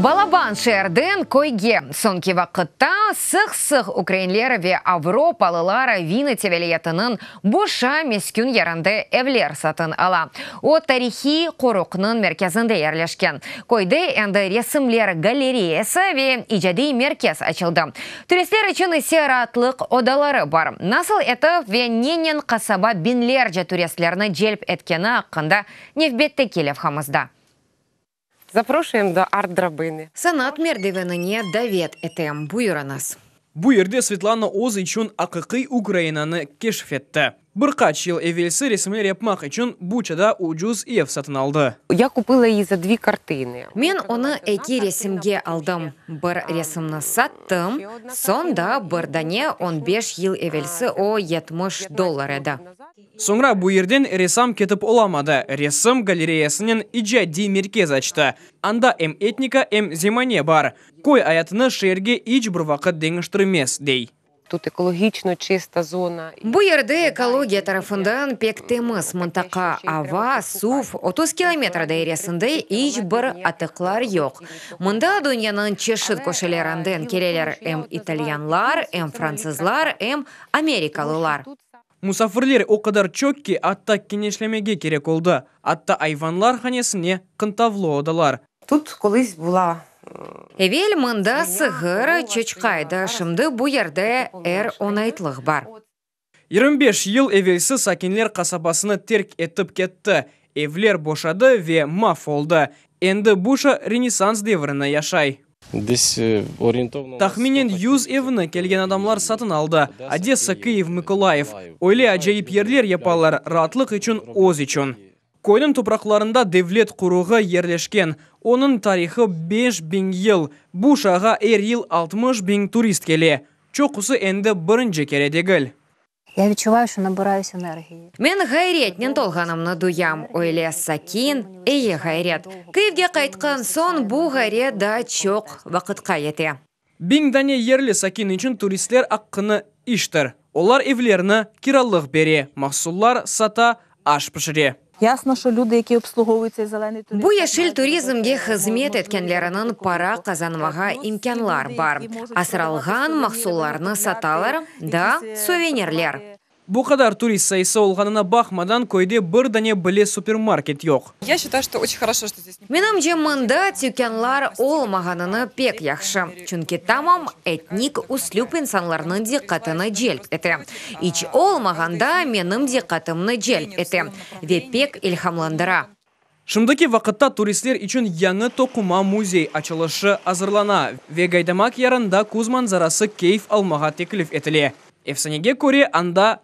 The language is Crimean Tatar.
Balaban şeerden köyge, soñki vaqıtta sıq-sıq ukrainler ve avropalılar Vinıtse vilâyetiniñ Boşa meskün yerinde evler satın ala. O, tarihiy qoruqnıñ merkezinde yerleşken. Köyde endi resimler galereyası ve icadiy merkez açıldı. Turistler içün ise raatlıq odaları bar. Nasıl etip ve nenen qasaba biñlerce turistlerni celp etkeni aqqında nevbetteki levhamızda. Zaproşuyem do Art drabıni. Sanat merdivenine davet etem. Buyurıñız. Bu yerde Svetlana öz içün aqiqiy Ukrainanı keşf etti. Bir qaç yıl evelsi resimler yapmaq içün Buçada ucuz ev satın aldı. Ya kupıla i za dvi kartini. Men onı eki resimge aldım. Bir resimni sattım, soñ da bir dane on beş yıl evelsi o yetmiş dollar edi. Soñra bu yerden ressam ketip olamadı, resim galereyasınen icadiy merkez açtı. Anda em etnika, em zemane bar. Köy ayatını şeerge iç bir vaqıt deñiştirmez, dey. Bu yerde ekologiya tarafından pek temiz mıntaqa, ava, suv, otuz kilometr dairesinde iç bir atıqlar yoq. Mında dünyanıñ çeşit köşelerinden keleler em italyanlar, em fransızlar, em amerikalılar. Musafirler o qadar çoq ki, atta keñeşlemege kerek oldı, atta ayvanlar hanesine, qıntavlı odalar. Tut, qılıç bula. Evel mında sığır, çoçqa edi, şimdi bu yerde er onaytlıq bar. Yirmi beş yıl evelsi sakinler qasabasını terk etip ketti, evler boşadı ve maf oldı, endi Buşa Renessans devrinde yaşay. Tahminen yüz evni kelgen adamlar satın aldı, Odessa, Kıyiv, Mıkolayiv. Öyle acayip yerler yapalar, raatlıq içün, öz içün. Köyniñ topraqlarında devlet quruğı yerleşken, onıñ tarihı beş biñ yıl, bu uşağa er yıl altmış biñ turist kele, çoqusı endi birinci kere degil. Ya vitchuvayu, şo nabırayus energiyi. Men ğayriyetnen tolğanımnı duyam, öyle sakin, eyi ğayret. Kyivge qaytqan soñ bu ğayret daa çoq vaqıtqa yete. Biñ dane yerli sakin içün turistler aqqını iştir. Olar evlerni kiralıq bere, mahsullar sata, aş pişire. Bu yeşil turizmge hızmet etkenleriniñ para qazanmağa imkânlar bar, asralğan mahsullarnı satalar da, suvenirler. Bu qadar turist sayısı olğanına baqmadan, köyde bir dane bile supermarket yoq. Menimce, mında tükânlar olmağanını pek yahşı, çünki tamam etnik üslüp insanlarnıñ diqqatını celp ete, iç olmağanda menim diqqatımnı celp ete ve pek ilhamlandıra. Şimdiki vaqıtta turistler içün yañı toquma müzey açılışı azırlana ve Gaydamak yarında küz manzarası keyf almağa teklif etile. Efsanege köre, anda